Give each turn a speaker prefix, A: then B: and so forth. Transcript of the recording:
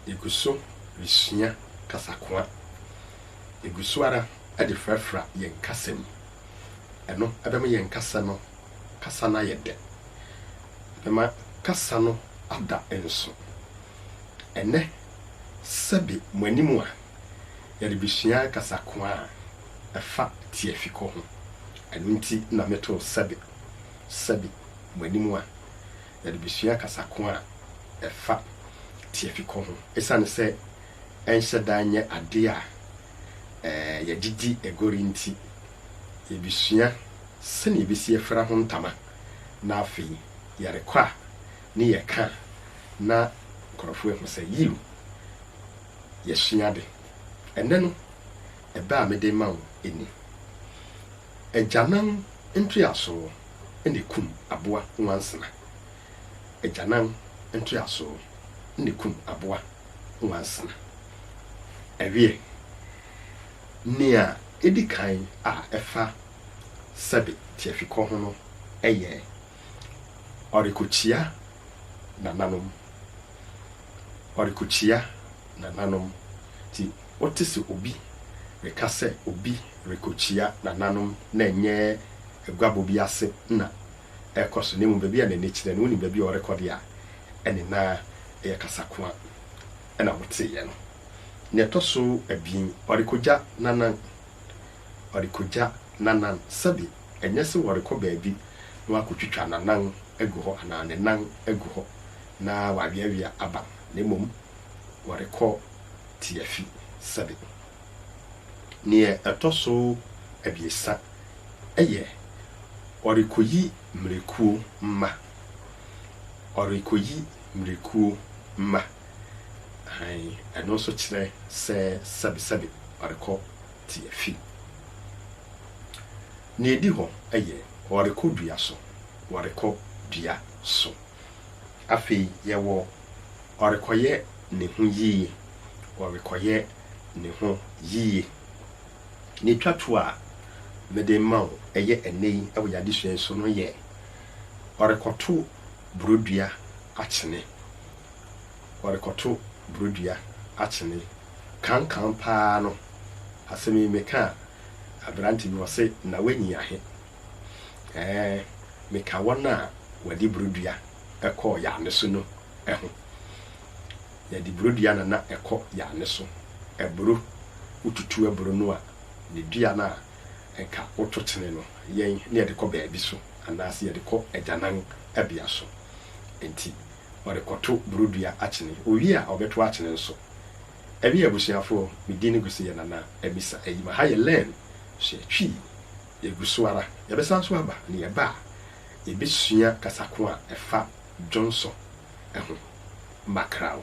A: Yegu so resua kasakoa. Yegu so ara de frafra yɛn kasa mu. Ɛno bɛma yɛn kasa no kasa no ayɛ dɛ. Ɛbɛma kasa no ada nso. Ɛnnɛ, sɛbe mo anim a, yɛrebesua kasakoa a ɛfa tiafikɔ ho. Ɛno nti na metoo sɛbe, sɛbe mo anim a, Yɛde besua kasa ko a ɛfa tiafikɔ ho. Esiane sɛ ɛnhyɛ da nyɛ ade a yɛde di agoru nti, yebesua sɛnea yebesi afura ho ntama, na afei yɛrekɔ a ne yɛka a na nkurɔfo ahu sɛ, yiw, yɛasua ade. Ɛnnɛ no, ɛbɛ a mede rema wo ni. Agyanan ntoeasoo na ekum aboa nwansena. Agyanan ntoeasoo na ekum aboa nwansena. Ɛweɛ, nea edi kan a ɛfa sɛbe tiafikɔ ho no yɛ ɔrekokyia nananom. Ɔrekokyia nananom. Nti Wote sɛ obi reka sɛ obi rekokyia nananom na ɛnyɛ aguabɔ bi ase na ɛrekɔ so na mmom baabi a n'ani kyerɛ no. Wunim baabi a ɔrekɔ deɛ a? Ɛne na ɛyɛ kasakoa na woteeɛ no. Nea ɛtɔ so abien, ɔrekogya n'anan. Ɔrekogya n'anan. Sɛbe ɛnyɛ sɛ ɔrekɔ baabi na wakotwitwa n'anan agu hɔ anaa ne nan agu hɔ na waweawea aba na mmom ɔrekɔ tiafi sɛbe. Nea ɛtɔ so abiɛsa yɛ ɔrekoyi mmirekuo mma. Ɔrekoyi mmirekuo mma. Aane, ɛno nso kyerɛ sɛ sɛbe sɛbe ɔrekɔ tiafi. Nea ɛdi hɔ yɛ ɔrekɔ dua so. Ɔrekɔ dua so. Afei yɛwɔ ɔrekɔyɛ ne ho yiye, ɔrekɔyɛ ne ho yiye. Nea etwa to a mede rema wo ɛyɛ ɛnnɛ yi wɔ yɛn adesua yi so no yɛ ɔrekɔto borodua akyene. Ɔrekɔto borodua akyene. Kankan paa no, asɛm yi meka a, aberante bi ɔse, Na woanyi ahe? Ɛɛ, meka wɔn a wɔde burodua kɔɔ Yane so no ho. Yɛde burodua na na ɛkɔ Yane so. Aburo, wotutu aburo no a, ne dua no a anka woto kyene no, yɛn na yɛde kɔ baabi so anaasɛ yɛde kɔ agyananbea so. Enti ɔrekɔto burodua akyene. Owie a, ɔbɛto akyene nso. Ɛne abusuafoɔ, me din ne Guseyɛ Nana Amisa Ayima. Ha yɛ Lɛn, Sua Twi. Yɛgu so ara. Yɛbɛsan nso aba, na yɛba a, yɛbɛsua kasa ko a ɛfa dwonsɔ ho. Mackerel.